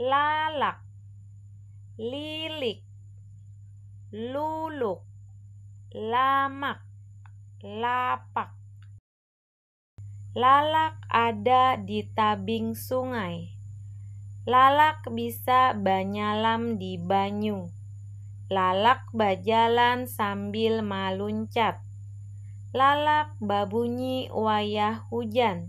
lalak, lilik, luluk, lamak, lapak. Lalak ada di tabing sungai. Lalak bisa banyalam di banyu. Lalak bajalan sambil maluncat. Lalak babunyi wayah hujan.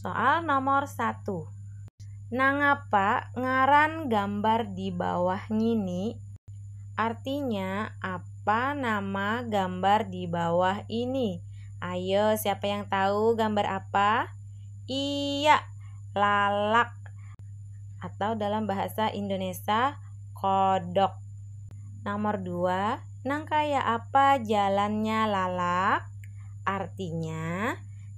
Soal nomor satu. Nangapa ngaran gambar di bawah ngini? Artinya apa nama gambar di bawah ini? Ayo, siapa yang tahu gambar apa? Iya, lalak atau dalam bahasa Indonesa kodok. Nomor dua, nang kaya apa jalannya lalak? Artinya,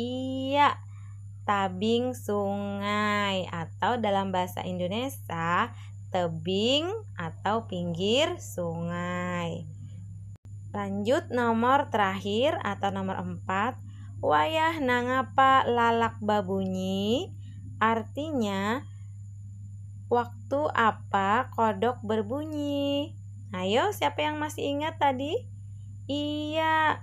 Iya, tabing sungai atau dalam bahasa Indunesa tebing atau pinggir sungai. Lanjut nomor terakhir atau nomor empat, wayah nangapa lalak babunyi artinya waktu apa kodok berbunyi. Ayo siapa yang masih ingat tadi? Iya,